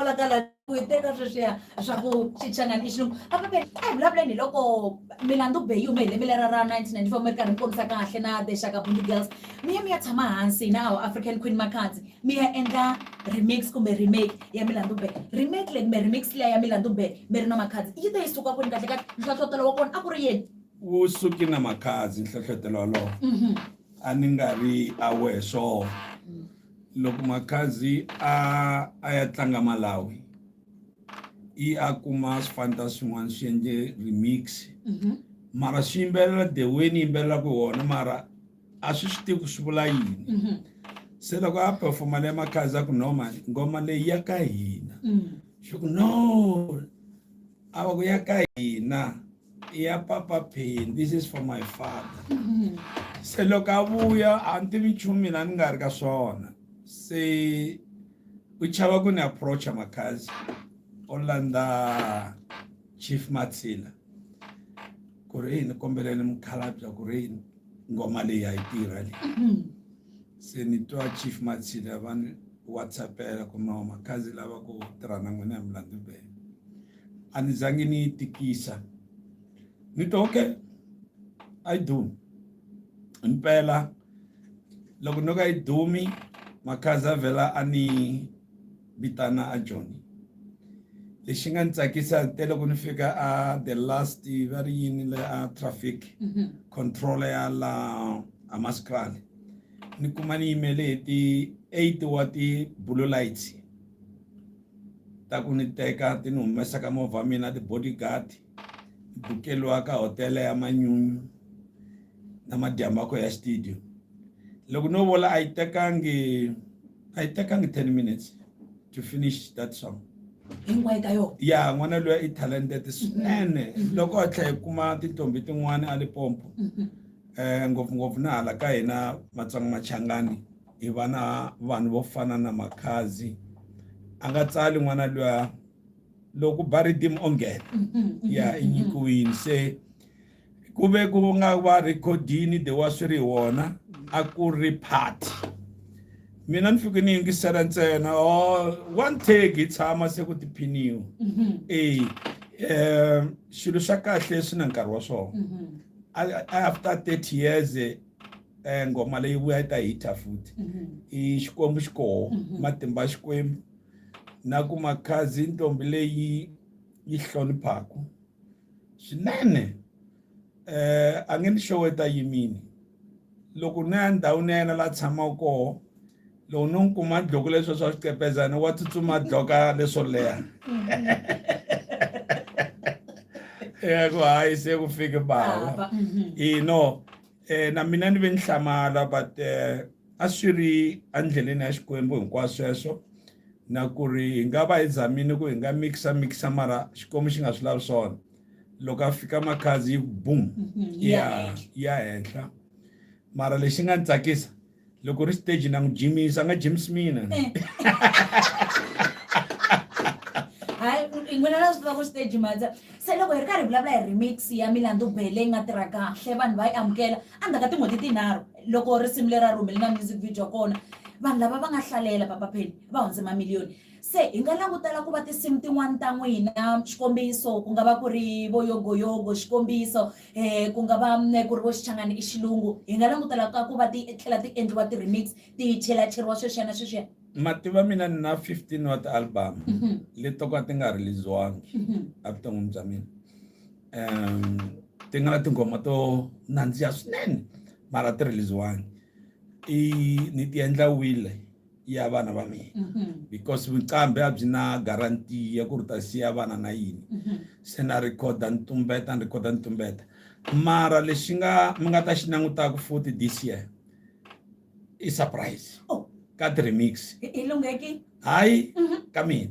kwalakala ku yi teka sweswiya swa ku xichangani i xilungu a paperi a hi vulavuleni hi loko milandu be yi hume hi lembe lera ra 1994 mi ri karhi mi kombisa kahle na the shaka bundi girls mi ya mi ya tshama hansi na our african queen makhadzi mi ya endla remix kumbe remake ya milandu be remake leyi kumbe remix liya ya milandu be mi ri na makhadzi yi ta yi suka kwini kahle kahle nhlohlotelo wa kona a ku ri yini wu suki na makhadzi nhlohlotelo walowo a ni nga ri aware swona loko makhadzi a a ya tlanga malawi i a kuma swifanta swin'wana swi endle remix mhm. mara swi yimbelela the way ni yimbelelaka wona mara a swi swi tivi ku swi vula yini mhm. se loko a performa le makhadzi a ku noma ngoma leyi ya ka hina mm. swi ku no a va ku ya ka hina ya papa pain this is for my father se loko a vuya a ni tivi nchumu mina ni nga ri ka swona se u chava ku ni approacha makhazi o landza chief matsila ku ri yini kombeleni mukhalabya ku ri yini ngoma leyi a yi tirha leyi se ni twa chief matsila va ni whatsappela ku no makhazi lava ku tirha na n'wina hi mulandzi bele a ni zangi ni yi tikisa ni to okay a yi dumi impela loko no ka yi dumi makhaza vhela a ni vitana a joni lexi nga ni tsakisa te loko ni fika a the last va ri yini le a traffic mm-hmm. control ya la a maskrale ni kuma ni yimele hi ti eight wa ti blue lights ta ku ni teka ti ni humesa ka movha wa mina ti-bodyguard ni bukeliwa ka hotela ya manyunyu na madyambakho ya studio loko no vola a yi tekangi a yi tekangi ten minutes to finish that song hinkwayo ka yona ya n'wana loyi i talented swinene loko a tlhela hi kuma tintombi tin'wana a limpopo um ngopfungopfu na hala ka hina matsonga machangani hi va na vanhu vo fana na makhazi a nga tsali n'wana luya loko ba ritimu o nghena ya i nyikiwini se ku ve ku nga va rhekhodini de wa swi ri wona a ku ri party mina ni fike ni yingisela ntsena o oh, one take hi tshama se ku tiphiniwa mm-hmm. e um xilo xa kahle swi na nkarhi wa swona mm-hmm. after thirty years eh ngoma leyi vuya yi ta hita futhi i xikwembu xi koho matimba xikwembu na ku makhazi ntombi leyi yi hloniphaka swinene eh a nge ni xoweta yimini loko ni ya ndhawini ya yena la tshamaka koho loko no n'wi kuma dloko leswo swa swicepezana wa tsutsuma dloka leswo leha ya ku hayi se ku fike bava ino eh, na mina ni ve ni hlamala but eh, a swi ri endleleni ya xikwembu hinkwaswo sweswo na ku ri hi nga va hi zamini ku hi nga mixa mixa mara xikwembu xi nga swi lavi swona loko a fika makhazi yi boom mm-hmm. ya ya henhla mara lexi nga ni tsakisa loko ri stage na n'wi jimisa a nga jimisi mina eh. hayi n'wina na swi tiva ku stage matsa se loko hi ri karhi hi vulavula hi remix ya milandu bele yi nga tirha kahle vanhu va yi amukela endzhaku ka tin'hweti tinharhu loko risimu leri a ri humele na music video kona vanhu lava va nga hlalela papapheni va hundze mamiliyoni se hi nga langutela ku va tinsimu tin'wana ta n'wina xikombiso ku nga va ku ri voyogoyogo xikombiso ku nga va ku ri vo xichangani i xilungu hi nga langutela ka ku va ti tlhela ti endliwa ti-remix ti chelacheriwa sweswiya na sweswiya mativa mina ni na 15 wa ti-album mhm. leti to ka ti nga release-wangi mhm. evuton'wini bya mina um ti nga na tinghoma to nandziha swinene mara ti release-wangi i ni ti endla wile ya vana va mina mm-hmm. because vuqambi a byi na guarantee ya ku ri ta siya vana na yini mm-hmm. se na rhikhoda ni tumbeta ni rhikhoda ni tumbeta mara lexi nga mi nga ta xi langutaka futhi this year i surprise oh. ka ti-remix hayi mm-hmm. ka mina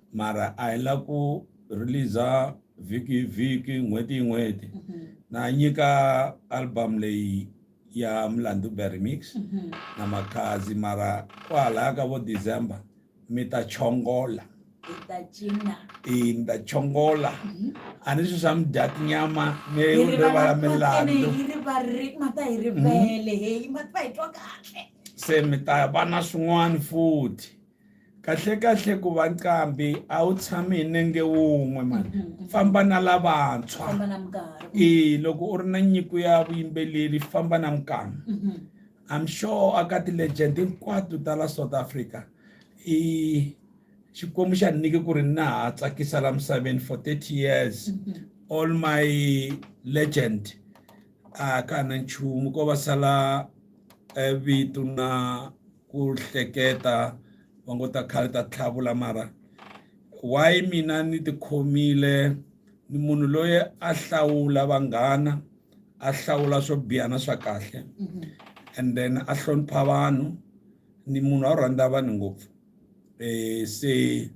mara a hi la ku release-a vhiki hi vhiki n'hweti hi n'hweti mm-hmm. na nyika album leyi ya mlandu beremix mm-hmm. na makhazi mara kwahalaya ka vo december mi ta chongola i ni ta chongola mm-hmm. a ni swi swa mi dya tinyama mi rivala milandu se mi ta va na swin'wana futhi kahlekahle ku va nqambi a wu tshami hi nenge wun'we mani mm-hmm, mm-hmm. famba na lavantshwa e loko u ri na nyiko ya vuyimbeleri famba na minkama mm-hmm. i'm sure a ka ti-legend hinkwato ta la south africa i xikwembu xa ni nyike ku ri na ha tsakisa la misaveni for 30 years all my legend a ka na nchumu ko va sala eh, vito na ku hleketa va ngo ta khale ta tlhavula mara why mina ni tikhomile ni munhu loyi a hlawula vanghana a hlawula swo biha na swa kahle mm-hmm. and then a hlonipha vanhu ni munhu a rhandza vanhu ngopfu um se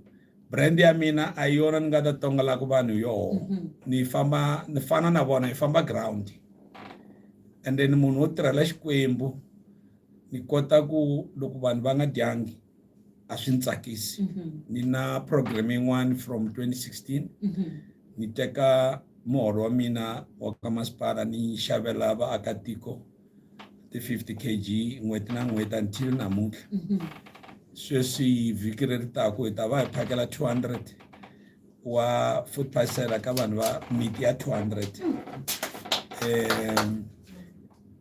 brand ya mina a yona ni nga ta tongolaka vanhu yoho mm-hmm. ni famba ni fana na vona hi famba ground and then munhu wo tirhela xikwembu ni kota ku loko vanhu va nga dyangi a swi ni tsakisi mhm. ni na program yin'wana from 2016 mhm. ni teka muholo wa mina wa ka masipala ni xavela vaakatiko ti-50 kg n'hweti na n'hweti until namuntlha mhm. sweswi vhiki ri ri taku hi ta va hi phakela 200 wa food parcela ka vanhu va miti ya 200 um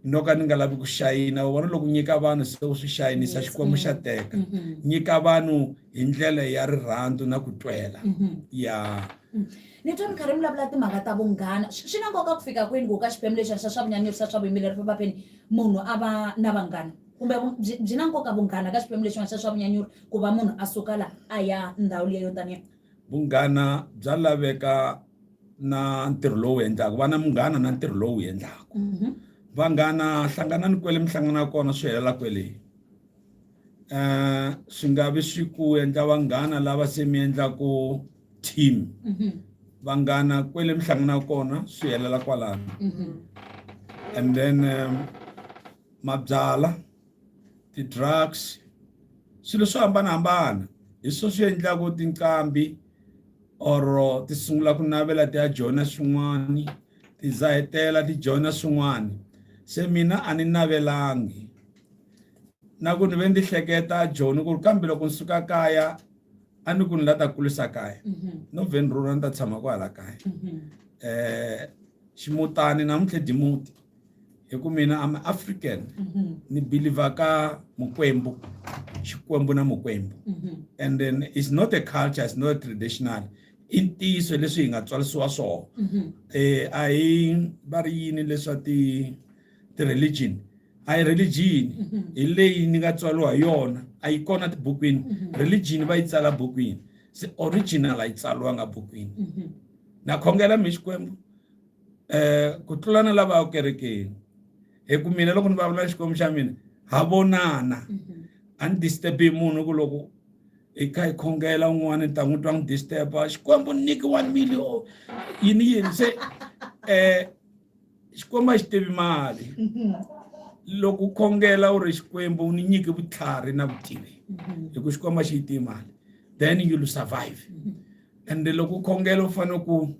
no ka ni nga lavi ku xayina u vona loko nyika vanhu se u swi xayinisa xikwembu xa mm-hmm. teka mm-hmm. nyika vanhu hi ndlela ya rirhandzu na ku twela mm-hmm. ya mm. ni twa mi karhi mi vulavula timhaka ta vunghana swi na nkoka ku fika kwini ku ka xiphemu lexi xa swa vunyanyurisa swa vuyimbeleri vapapeni munhu a va na vanghana kumbe byi na nkoka vunghana ka xiphemu lexin'wana xa swa vunyanyuri ku va munhu a suka la a ya ndhawu leyo taniya Vunghana bya laveka na ntirho lowu endlaka va na munghana na ntirho lowu endlaka mhm. vanghana hlanganani kwele mi hlangana kona swi helela kwele um swi nga vi swi ku endla vanghana lava se mi endlaku team mhm. vanghana kwele mi hlangana kona swi helela kwalano mhm. and then um, mabyala ti-drugs swilo swo hambanahambana hi swo swi endlaku tinqambi or ti sungula ku navela ti ya joyina swin'wani ti za hetela ti joyina swin'wani se mina a ni navelangi na ku ni ve ndzi hleketa joni ku ri kambe loko ni suka kaya a ni ku ni la ta kulisa kaya mhm. no vhe ni rhurha ni ta tshama kwala kaya um ximutani namuntlha dimuti hi ku mina am african mm-hmm. ni believer ka mukwembu xikwembu na mukwembu mm-hmm. and then it's not a culture it's not a traditional i ntiyiso leswi hi nga tswarisiwa swona mm-hmm. eh a hi va ri yini leswa ti ti religion a hi religion hi leyi ni nga tswariwa hi yona a yi kona tibukwini religion va yi tsala bukwini se original a yi tsaliwanga bukwini Na khongela mi Xikwembu um ku tlula na lava ekerekeni hi ku mina loko ni vulavula Xikwembu xa mina ha vonana mhm. a ni disturb-i munhu ku loko hi kha hi khongela un'wana ni ta n'wi twa n'wi disturb-a Xikwembu ni nyiki one million yini yini se um Xikwembu a xi tivi mali mhm. loko u khongela u ri Xikwembu u ni nyiki vutlhari na vutivi mhm. hi ku Xikwembu a xi yi tivi mali then you'll survive ende loko u khongela u fanele ku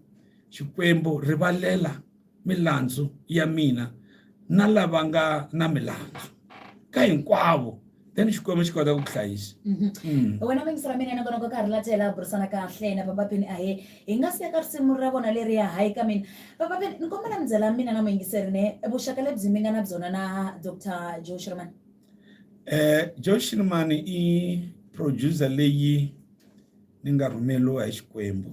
xikwembu rivalela milandzu ya mina na lava nga na milandzu ka hinkwavo then xikwembu xi kota ku ku hlayisa mhm. mm. wena vayingisela mina nakona ku karhi la tela burisana kahle na vavapini ahe hi nga siya ka risimu ra vona leri ya hayi ka mina vavapini ni kombela mi byela mina na muyingiseri ne vuxaka lebyi mi nga na byona na dr joe shirman um eh, joe shirman i producer leyi ni nga rhumeriwa hi Xikwembu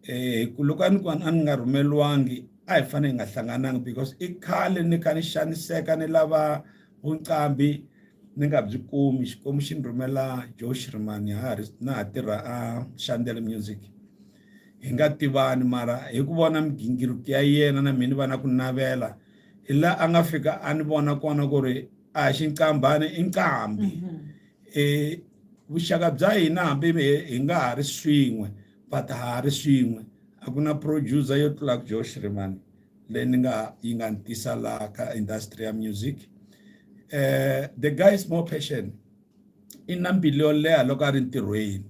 eh ku loko a ni ku a ni nga rhumeliwangi a hi fanele hi nga hlangananga because i khale ni kha ni xaniseka ni lava vuqambi ni nga byi kumi Xikwembu xi ni rhumela Joe Shirimani ha ri na ha tirha a Shandela Music hi nga tivani mara hi ku vona migingiriko ya yena na mina va na ku navela hi laha a nga fika a ni vona kona ku ri a hi xinkambana i nkambi mhm. um vuxaka bya hina hambi hi nga ha ri swin'we but ha ha ri swin'we a ku na producer yo tlula ku josh rimani leyi ni nga yi nga ni tisa laha ka industry ya music um the guy is more passion i na mbilu yo leha loko a ri ntirhweni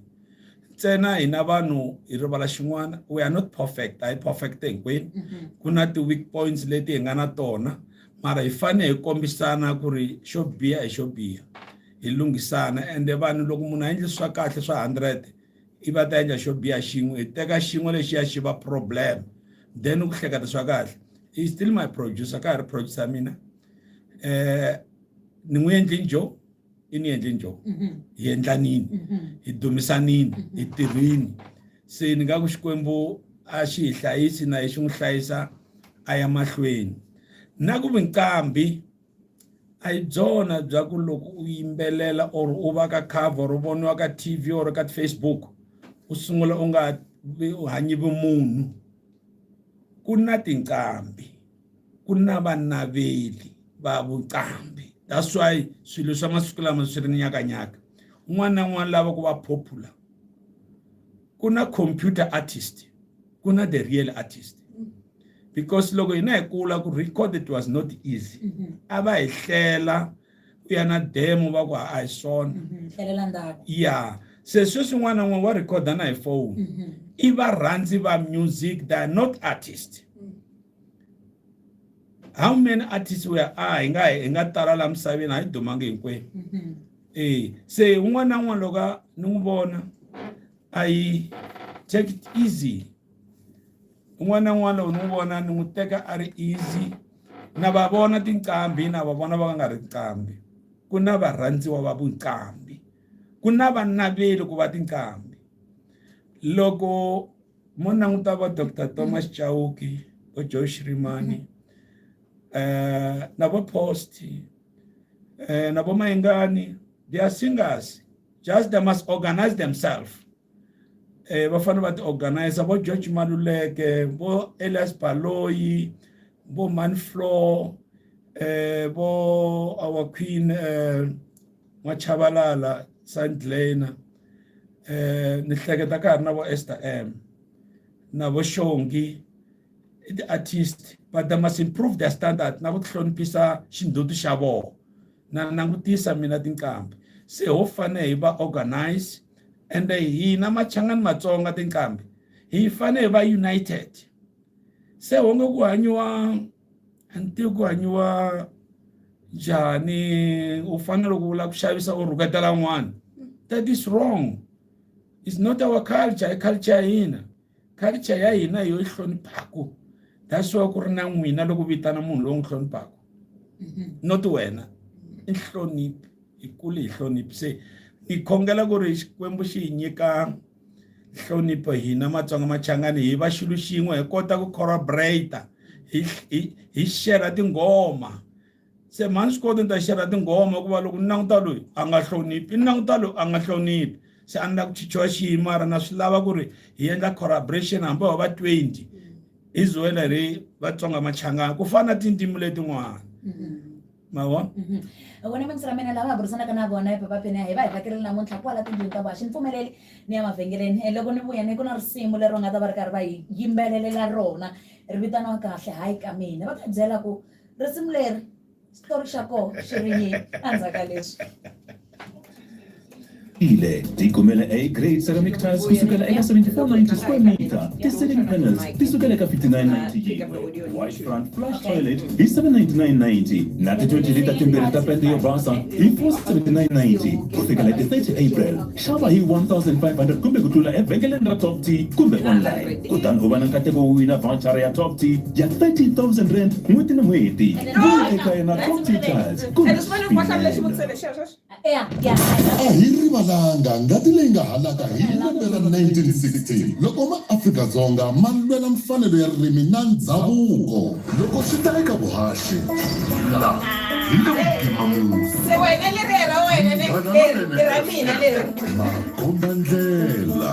ntsena hina vanhu hi rivala xin'wana we are not perfect a hi perfect hinkwenu mm-hmm. ku na ti-weak points leti hi nga na tona mara hi fane hi kombisana ku ri xo biha hi xo biha hi lunghisana ende vanhu loko munhu a endli swa kahle swa hundred i va ta endla xo biha xin'we hi teka xin'we lexi ya xi va problem then ku hleketa swa kahle i still my producer ka ha ri producer mina eh ni n'wi endli njo i ni endli njo mm-hmm. hi endlanini mm-hmm. hi dumisanini mm-hmm. hi tirhini se ni nga ku xikwembu a xi hi hlayisi na hi xi n'wi hlayisa a ya mahlweni na ku vinqambi a hi byona bya ku loko u yimbelela or u va ka cover u voniwa ka tv or ka facebook u sungula u nga u hanyi vumunhu ku na tinqambi ku na vanaveli va vuqambi that's why swilo swa masiku lama swi ri nyakanyaka un'wana na un'wana lava ku va popular ku na computer artist ku na the real artist because loko hina hi kula ku record it was not easy mm-hmm. a va hi hlela u ya na demo va ku a hi swona mm-hmm. ya se sweswi n'wana n'wana wa rhikhoda na hi foni mm-hmm. i varhandzi va music they are not artist how many artists were a hi nga hi nga tala laha misaveni a hi dumangi hinkwenu mm-hmm. e se un'wana na un'wana loko a ni n'wi vona a yi take it easy un'wana na un'wana loko ni n'wi vona ni n'wi teka a ri easy na va vona tinqambi na va vona va nga nga ri nqambi ku na varhandziwa va vunqambi ku na vanaveli ku va tinqambi loko Mo languta vo Doctor Thomas Chauke, vo Joe Shirimani, eh, na vo Post, eh, na vo Mayengani, they are singers. Just they must organize themselves. Eh, va fanele va ti organize vo George Maluleke, vo Elias Baloyi, vo Manflo, eh, vo our queen eh, Machabalala, Saint Lena. eh ni hleketa ka ha ri na vo Esther M na vo Shongi i ti-artist but they must improve their standard na ku tihloniphisa xindzhuti xa vona na langutisa mina tinqambi se ho fane hi va organize and hina machangani matsonga tinqambi hi fane hi va united se honge ku hanyiwa ntirho ku hanyiwa njhani u fanele ku vula ku xavisa u rhuketa lan'wana that is wrong is not our culture i culture ya hina culture ya hina yo yi hloniphaka that's why ku ri na n'wina loko vitana munhu lowu n'wi hloniphaka mm-hmm. not wena i nhloniphi hi kule hi hloniphi se ni khongela ku ri xikwembu xi hi nyika nhlonipho hina matsonga machangani hi va xilo xin'we hi kota ku corroborate hi hi hi share tinghoma se mhani swi koti ni ta share tinghoma ku va loko ni languta loyi a nga hloniphi ni languta loyi a nga hloniphi se a ni la ku chichiwa xihi mara na swi lava ku ri hi endla corroboration hambi ho va 20 hi zuwela ri vatsonga machangani ku fana na tindzimi letin'wana mm-hmm. mavona mm-hmm. vona mintsi ra mina lava burisanaka na vona epapapeni ya hi va hi vakerile namuntlha kwala tindlwini ta vona xi ni pfumeleli ni ya mavhengeleni eh, loko ni vuya ni ku na risimu leri va nga ta va ri karhi va hi yimbelelela rona ri vitaniwa kahle hayi ka mina va ta byela ku risimu leri xitori xa kona xi ri yini endzhaku ka leswi Ile tikumela A grade ceramic tiles kusukela eka 7490 square meter, ti-ceiling panels ti sukela eka 5990 wash front flush toilet hi 79990 na ti-20 lita timbirhi ta pende yo basa hi 47990 ku fikela ti 30 april xava hi 1500 kumbe ku tlula evhengeleni ra top t kumbe online kutani u va na nkateko wo wina vouchara ya top t ya 30000 rand n'hweti ni n'hweti vuya eka yena top t tiles kumbe a hi rivalanga ngati leyi nga halaka hi lembe ra 1916 loko maAfrika-Dzonga ma lwela mfanelo ya ririmi na ndzhavuko. Loko swi ta eka vuhaxi, la hi le ku pimameni. Munghana lonene, makombandlela.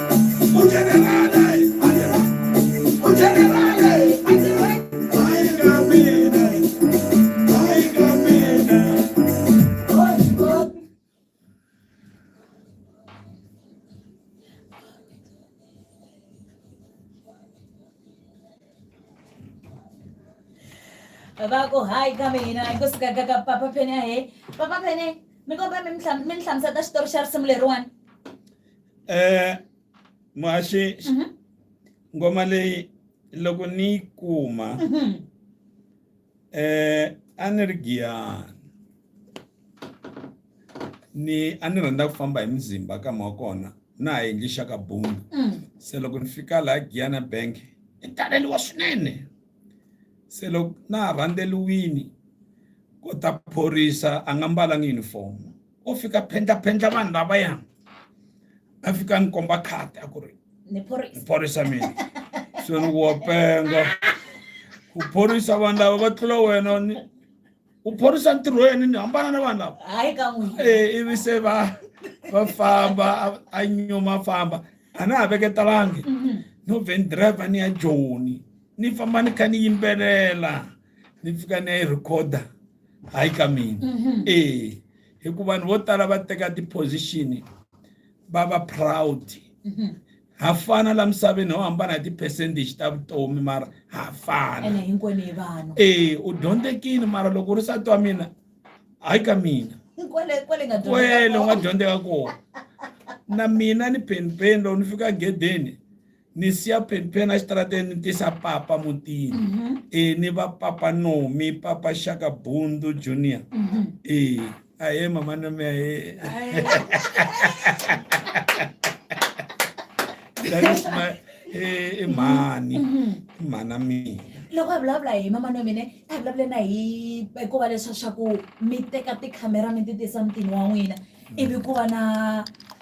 vako hayi kambe hina hi kusikakaka papa pene ahe papa pene mi komba mi ni hlamusela ta xitori xa risimu leriwani eh mwaxi mhm. ngoma leyi loko ni yi kuma mhm. eh a ni ri giyani ni a ni rhandza ku famba hi muzimba ka mwa kona na ha endli xaka boom mm. se loko ni fika laha giyana bank i taleliwa swinene se loko na ha rhandzeliwini ko ta phorisa a nga mbalanga uniform o fika phendla-phendla vanhu lavaya a fika ni komba khati a ku ri ni phorisa mina se ni wa penga ku phorisa vanhu lava va tlula wena ni u phorisa ntirho wa yena ni hambana na vanhu lava hayi ka n'wi eh, ivi se va va famba a nyuma famba a na ha veketalangi mhm. no vhen driver ni ya joni ni famba ni kha ni yimbelela ni pfuka ni ya yi recorder hayi ka mina mhm. e hikuva vanhu vo tala va teka ti-position va va proud mhm. ha fana la misaveni ho hambana hi ti-percentage ta vutomi mara ha fana e u dyondzekile mara loko u ri sati wa mina hayi ka mina kwele u nga dyondzeka kona na mina ni penipeni loko ni fika gedeni ni siya phenphena exitarateni ni tisa papa mutini mm -hmm. e ni va papa nomi papa shaka bundu junior mm -hmm. e ahe mama nomi ahe i mhani i mhana mina loko a vulavula hi mama no mina a vulavule na hi hikuva leswa swa ku mi teka tikhamera mi ti tisa mutini wa n'wina ivi ku va na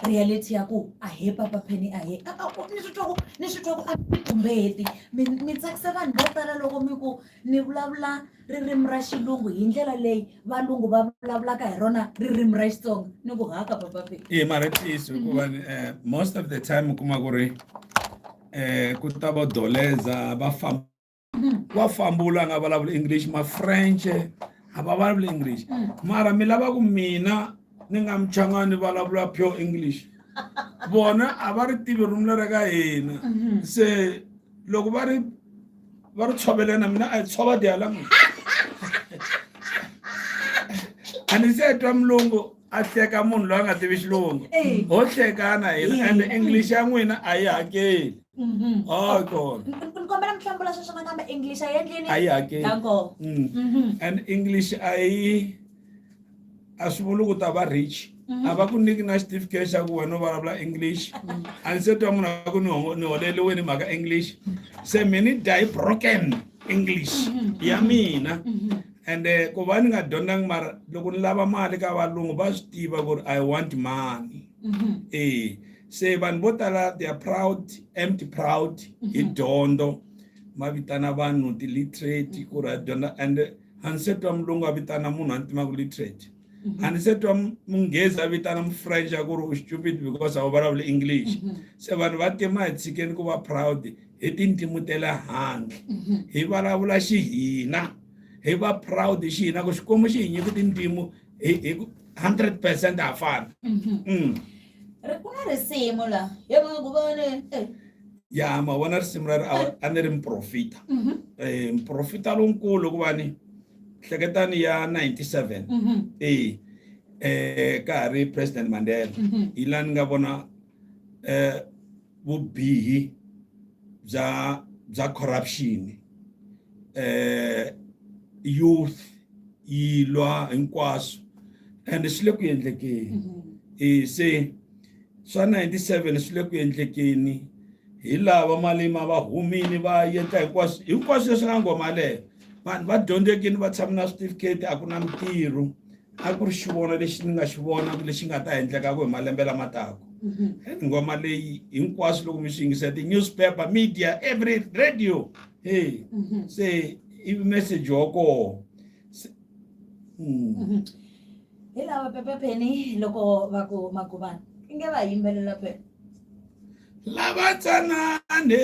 reality ya ku a he papa pheni a he ni swi twa ku ni swi twa ku a mi tumbeti mi mi tsakisa vanhu vo tala loko mi ku ni vulavula ririmi ra xilungu hi ndlela leyi valungu va vulavulaka hi rona ririmi ra xitsonga ni ku haka papa pheni e mara ntiyiso hikuva mhm. eh, most of the time u kuma ku ri um ku ta vo doleza va famba Mm. wa famba u la nga vulavula english ma french a va vulavula english mm. mara mi lava ku mina ni nga muchangani ni vulavula pure english vona a va ri tivi rumi leri ka hina mm-hmm. se loko va ri va ri tshovelena mina a yi tshova dialanguage a ni se twa mulungu a hleka munhu loyi a nga tivi xilungu ho hlekana hina and english ya n'wina a yi hakeli mm-hmm. oh, kombela mihlambula sweswo nakambe english a yi endlini a yi hakeli mm. mm-hmm. and english a yi a swi vuli ku ta va rich mm-hmm. a va ku niki na xitifiketi xa ku wena u vulavula english a ni se twa munhu a ku ni holeliweni mhaka english se mi ni die broken english ya mina ende eh, ku va ni nga dyondzangi mara loko ni lava mali ka valungu va swi tiva ku ri i want money mm-hmm. e se vanhu vo tala they are proud empty proud hi mm-hmm. dyondzo ma vitana vanhu ti-literate ku ri a dyondza ende eh, a ni se twa mulungu a vitana munhu a ni timaku literate a ni se twa munghezi a vitana mufrench a ku ri u stupid because a wu vulavuli english mm-hmm. se vanhu va tima hi tshikeni ku va proud hi tintimu te le handle mm-hmm. hi vulavula xihina hi va proud xihina ku xikwembu xi hi nyiki tintimu hi hundred percent ha fana mm-hmm. mm. ku na risimu la hi nga ku vone eh. ya ma vona risimu ra ri a ni ri mprofita um mprofita lonkulu ku va ni hleketani ya 97 mm -hmm. e eh ka ha ri president mandela mm -hmm. hi laha ni nga vona eh vubihi bya bya corruption eh youth yi lwa hinkwaswo and swi le ku endlekeni mm -hmm. e se swa 97 swi le ku endlekeni hi lava malima va humini va yeta hinkwaswo hinkwaswo leswi nga ngoma leyo vanhu va dyondzekini va tshame na switifiketi a ku na mitirho a ku ri xivono lexi ni nga xi vona lexi nga ta endlekaku hi malembe lama taku mm-hmm. nghoma leyi hinkwaswo loko mi swi yingisa ti-newspaper media every radio hey mm-hmm. se i message wa koho hmm. mm-hmm. hi lava pepe pheni loko va ku maguvana i nge va yimbelela phela lava tsanane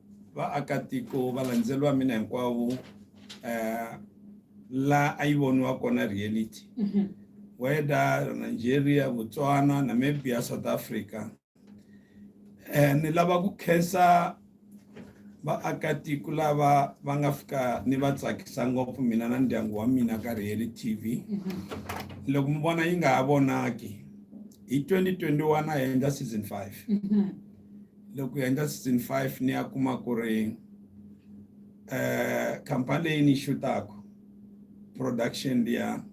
Vaakatiko, valandzeri va mina hinkwavo eh, la a yi voniwa kona reality mhm. whether Nigeria, Botswana, Namibia, South Africa eh, ni lava ku khensa vaakatiko lava va nga fika ni va tsakisa ngopfu mina na ndyangu wa mina ka reali tv mm-hmm. loko mi vona yi nga ha vonaki hi 2021 a hi endla season 5 mm-hmm. loko hi endla season five ni ya kuma ku ri um khampani leyi ni xutaka production liya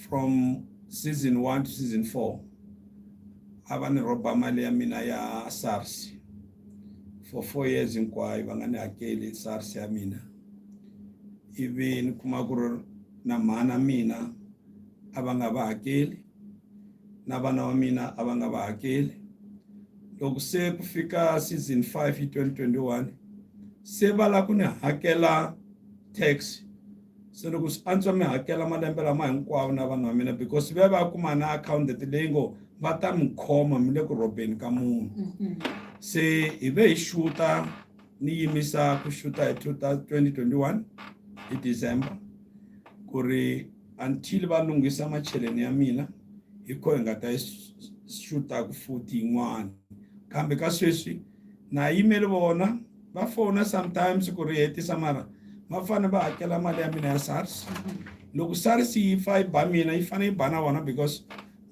from season one to season four a va ni rhoba mali ya mina ya sars for four years hinkwayo va nga ni hakeli sars ya mina ivi ni kuma ku ri na mhana mina a va nga va hakeli na vana va mina a va nga va hakeli loko se ku fika season 5 hi 2021 se va la ku ni hakela tax se loko swi antswa mi hakela malembe lama hinkwawo na vanhu va mina because va va kuma na accountant leyi ngo va ta mi khoma mi le ku robeni ka munhu mm-hmm. se hi ve hi xuta ni yimisa ku xuta hi 2021 hi december ku ri Until va lunghisa macheleni ya mina, hi kona hi nga ta xutaka futhi yin'wana. Kambe ka sweswi na yimele vona va fona sometimes ku ri hetisa mara va fanele va hakela mali ya mina ya SARS. Loko SARS yi fa yi ba mina yi fanele yi ba na vona because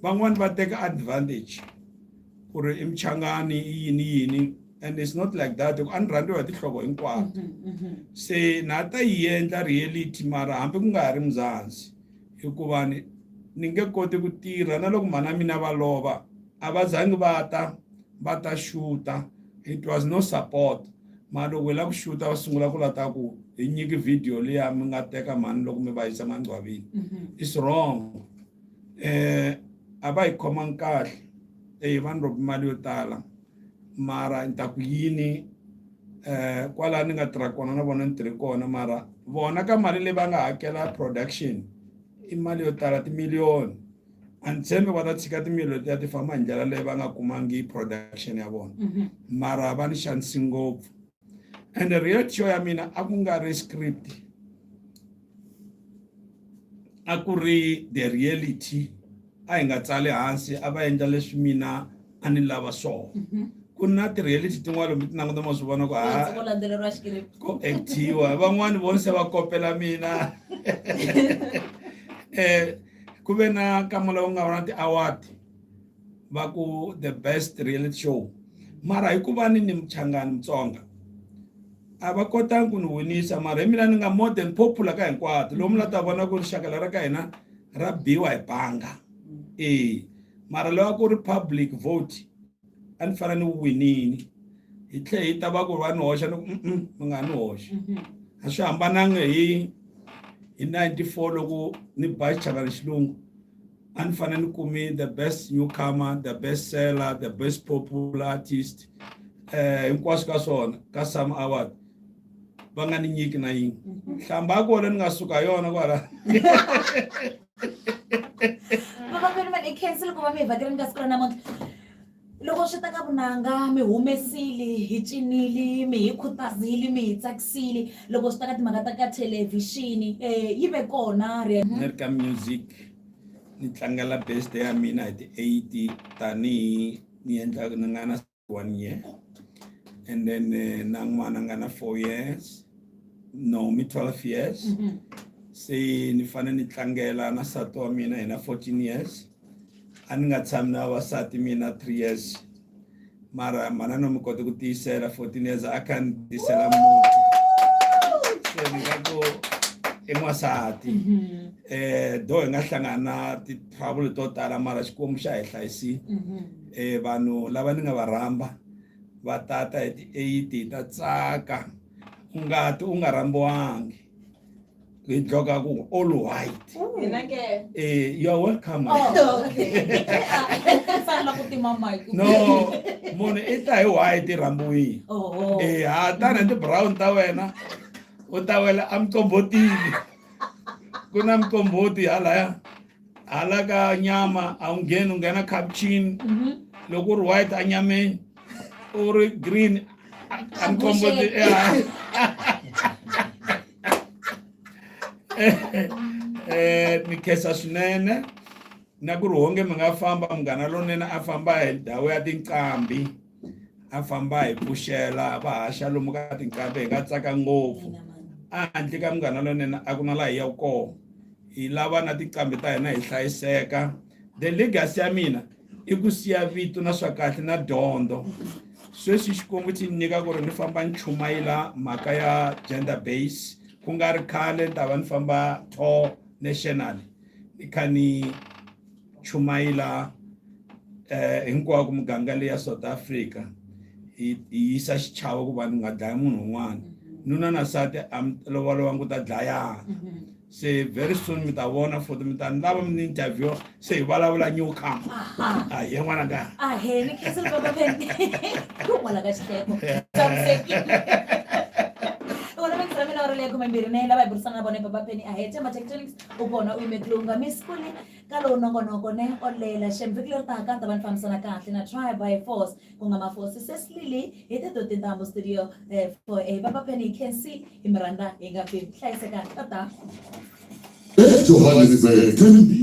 van'wani va teka advantage ku ri i muchangani i yini yini. and it's not like that a ni rhandziwa hi tinhloko hinkwato mm-hmm, mm-hmm. se na ta yi endla reality mara hambi ku nga ha ri muzanzi hikuva ni ni nge koti ku tirha na loko mhana mina va lova a va zangi va ta va ta xuta it was no support mara loko hi lava ku xuta va sungula ku lata ku hi nyiki video leya mi nga teka mhani loko mi va yisa mangcwavini mm-hmm. it's wrong um eh, a va hi khomangi kahle eyi va ni robi mali yo tala mara ni ta ku yini eh kwala ni nga tirha kona na vona ni tirhe kona mara vona ka mali leyi va nga hakela production i mali yo tala timiliyoni a ni tshembi va ta tshika timiliyoni ti ya ti famba hi ndlela leyi va nga kumangi production ya vona mhm. mara va ni xanisi ngopfu and real show ya mina a ku nga ri script a ku ri the reality a hi nga tsali hansi a va endla leswi mina a ni lava swona mhm. ku na ti-reality tin'wana lombi ti languta ma swi vona ku ha ku actiwa van'wani voni se va kopela mina um ku ve na nkama lowu nga va na ti-award va ku the best reality show mara hikuva ni ni muchangani mutsonga a va kotanga ku ni winisa mara hi mina ni nga more than popular ka hinkwato lomu la ta vona ku rixaka lera ka hina ra biwa hi banga e mara lowa ku ri public vote a ni fanele ni wu winini hi tlhe hi ta va ku ri va ni hoxa ni ku mm mi nga ni hoxa mhm. a swi hambananga hi hi 94 loko ni ba xichalani xilungu a ni fanele ni kumi the best newcomer the best seller the best popular artist eh hinkwaswo ka swona ka some award va nga ni nyiki na yin'we mhm. nhlamba ya kona ni nga suka yona kwala vavakweni mani i cancel ku va mi hi vhakeleni ka siku ra namuntlha Loko swi ta ka vunanga, mi humesile, hi cinile, mi hi khutazile, mi hi tsakisile. Loko swi ta ka timhaka ta ka thelevhixini, eh, yi ve kona. Ni ri ka music, ni tlangela birthday ya mina hi ti eight tanihi ni endla ni nga na one year and then eh, na n'wana nga na four years no mi 12 years se ni fanele ni tlangela na nsati wa mina hi na 14 years a ni nga tshami na vavasati mina three years mara manana mi kote ku tiyisela fourteen years a kha ni tisela muti se ni nga ku i n'wansati um mm-hmm. eh, do hi nga hlangana na ti-trouble to tala mara xikwembu xa hi hlayisile um mm-hmm. eh, vanhu lava ni nga va rhamba va tata hi ti-eighty hi ta tsaka u ngati u nga rhambiwangi ngidloga ku all white mina ke eh you are welcome oh, okay sana ku tima mic no mone i ta hi white rambuyi oh, oh. eh ha tana ndi brown ta wena u ta wela amcombotini ku na mcomboti halaya hala ka nyama a wu ngheni u nghena capcini mhm. loko u ri white a nyameni u ri green a mikombo eh ni khesa swinene na ku ri honge mi nga famba munghana lonene a famba hi ndhawu ya tinqambi a famba hi pfuxela va haxa lomu ka tinqambi hi nga tsaka ngopfu a handle ka munghana lonene a ku na laha hi yaku kona hi lava na tinqambi ta hina hi hlayiseka the legacy ya mina i ku siya vito na swa kahle na dyondzo sweswi xikwembu xi ni nyika ku ri ni famba ni chumayela mhaka ya gender base ku nga ri khale ni ta va ni famba tour national ni kha ni chumayela eh hinkwako muganga leyi ya South Africa yi yisa xichavo ku va ni nga dlaya munhu un'wana nuna na sati a mi lovolowa ngu ta dlayana se very soon mi ta vona futhi mi ta ni lava mi ni interview se hi vulavula new come a hi n'wana ka a he ni khensa ni baba phendi ku n'wana ka xiteko tshamisekile vona va tirha mina va ri leyi khumembirhi ne lava hi burisana na vona hi baba peni a he tema tectonics u kona u yimeki lowu nga miss kule ka lowu nongonoko ne olela xembe vhiki leri taka ta va ni fambisana kahle na try by force ku nga mafosi sesilili hi te to tintambu studio eh, for a eh, baba penny can see hi mi rhandza hi nga pfimbi hlayiseka tata Johannesburg